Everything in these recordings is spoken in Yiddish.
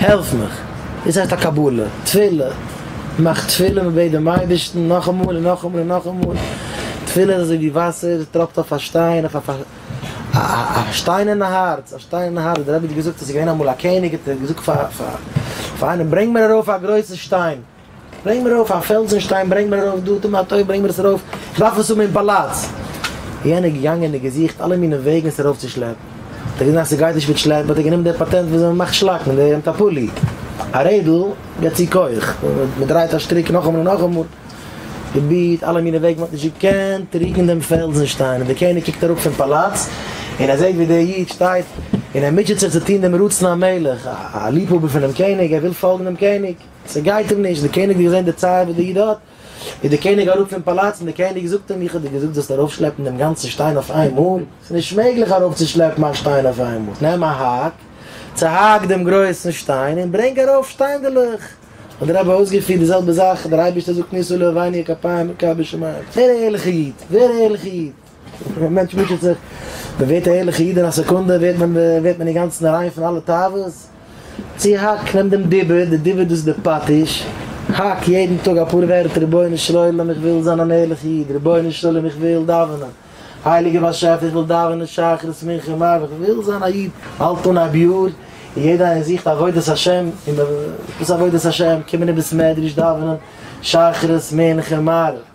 העלף מיך, דאס הייסט א קבלה, תפילה, מאך תפילה און בעט דעם אייבערשטן נאכאמאל און נאכאמאל און נאכאמאל, תפילה איז אזוי ווי וואסער טראפט אויף א שטיין, אויף א שטיינערנע הארץ, א שטיינערנע הארץ, דער רבי האט געזאגט אז ס'איז געווען אמאל א קעניג האט ער געזאגט פאר איינעם ברענג מיר ארויף א גרויסע שטיין, ברענג מיר ארויף א פעלזן שטיין, ברענג מיר ארויף דא די מטה, ברענג מיר עס ארויף, איך דארף עס האבן אין פאלאץ. יענער איז געגאנגען און געזוכט אלע מיני וועגן עס ארויף צו שלעפן, האט ער געזען אז ס'גייט נישט מיט שלעפן, האט ער גענומען די פאטענט וויאזוי מען מאכט שלאקן, דער נעמט א פולי, א רעדל, גיבט צו כח, מען דרייט א שטריק נאכאמאל און נאכאמאל, פרובירט אלע מיני וועגן, מען האט נישט געקענט רוקן דעם פעלזן שטיין, און דער קעניג קוקט אראפ פון פאלאץ, און ער זעט ווי דער איד שטייט און ער מוטשעט זיך צו טון דעם רצון המלך, א ליבהאבער פונעם קעניג, ער וויל פאלגן דעם קעניג. ס'גייט אים נישט, דער קעניג האט געזען די צער וואס דער איד האט, איז דער קעניג אראפ פון פאלאץ, און דער קעניג זאגט אים, איך האב דיר געזאגט זאלסט ארויפשלעפן דעם גאנצן שטיין אויף איין מאל, ס'איז נישט מעגליך ארויפצושלעפן א שטיין אויף איין מאל, נעם א האק, צעהאק דעם גרויסן שטיין, און ברענג ארויף שטיינדעלעך. האט דער רבי אויסגעפירט די זעלבע זאך, דער אייבערשטער זאגט ניסו לאבינו כפיים מכבי שמים, ווער א ערליכער איד, ווער א ערליכער איד. ווען א מענטש מוטשעט זיך, מען ווערט א ערליכע איד אין א סעקונדע, ווערט מען ווערט מען אינגאנצן ריין פון אלע תאוות. צו האק, נעם דעם דיבור, די דיבור דאס איז די פטיש, האק יעדן טאג אפאר ווערטער, רבונו של עולם איך וויל זיין אן ערליכע איד, רבונו של עולם איך וויל דאווענען, הייליגער באשעפער איך וויל דאווענען שחרית מנחה מעריב, איך וויל זיין א איד, האלט אן א ביאור, און יעדע איינער זוכט עבודת השם, און וואס איז עבודת השם, קומען אין בית מדרש דאווענען שחרית מנחה מעריב.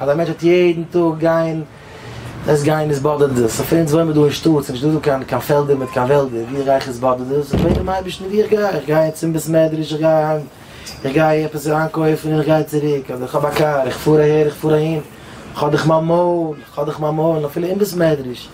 אז א מענטש וועט יעדן טאג גיין עס גיין עס באדערט דאס אויף אונז וואוינען מיר דא אין שטאט ס'איז נישט דא קיין קיין פעלדער מיט קיין וועלדער ווי איך גיי איך עס באדערט דאס איך בעט דעם אייבערשטן ווי איך גיי איך גיי צום בית מדרש איך גיי אהיים איך גיי עפעס איינקויפן און איך גיי צוריק אדער איך האב א קאר איך פאר אהער איך פאר אהין איך האב דאך מיין מויל איך האב דאך מיין מויל אפילו אין בית מדרש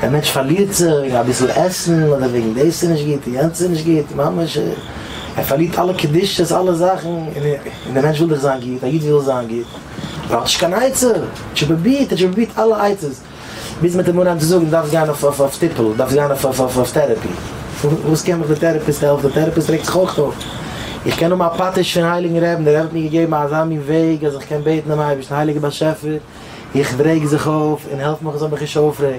דער מענטש פארלירט זיך וועגן אביסל עסן אדער וועגן דאס איז נישט גוט און יענץ איז נישט גוט, ממש ער פארלירט אלע קדושות אלע זאכן, און דער מענטש וויל דאך זיין גוט, א איד וויל זיין גוט, ער האט נישט קיין עצה, ער האט שוין פרובירט, ער האט שוין פרובירט אלע עצות, ביז מען האט אים אנגעהויבן צו זאגן דו דארפסט גיין אויף טיפול, דו דארפסט גיין אויף טערעפי, וואס קען מיך דער טערעפיסט העלפן, דער טערעפיסט רעגט זיך אויך אויף. איך קען האבן א פטיש פון הייליגן רעבן, דער רבי האט מיר געגעבן אזא מין וועג אז איך קען בעטן דעם אייבערשטן, הייליגער באשעפער, איך ברעג זיך אויף און העלף מיך איך זאל מיך נישט אויפרעגן.